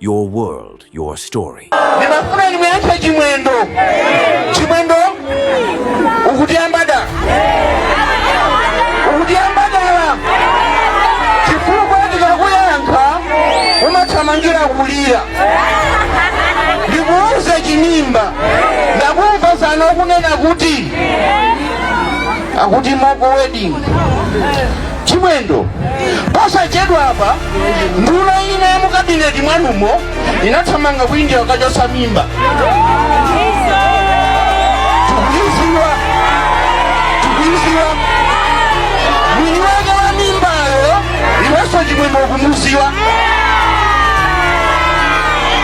Your world, your story. Ndimafuna ndimuyankhe Chimwendo. Chimwendo? Ukutiyamba dala. Ukutiyamba dala. Chifukwa ndikakuyankha umathamangira kulira. Ndikuuza chinimba. Ndakumva masana ukunena kuti akuti moko wedding. chimwendo posachedwapa nduna ina ya mu kabineti mwanumo inathamanga ku india kukachotsa mimba tikuiziwa tikuiziwa mwini wake wa mimbayo iwenso chimwendo ukumuziwa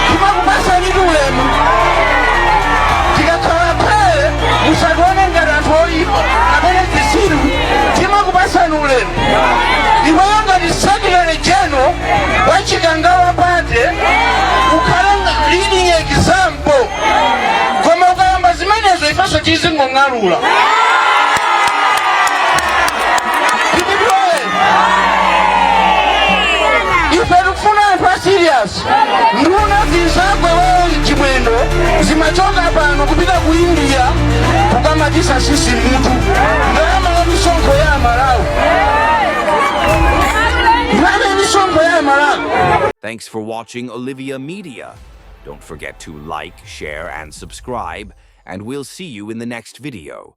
timakupasani ulemu tikakhala phee musatione ngati anthu oyipa kapena zisiru timakupasani ulemu iweyo ngati secretary general wa chikangawa party ukhala nga- leading example koma ukayamba zimenezo ifenso tizingong'alula Tipitilire. ife tikufuna anthu a serious nduna zinzako iwe chimwendo zimachoka pano kupita ku india kukamatisa tsitsi mmutu ndalama ya misonkho ya amalawi ndalama ya misonkho ya amalawi Thanks for watching Olivia Media. Don't forget to like, share, and subscribe, and we'll see you in the next video.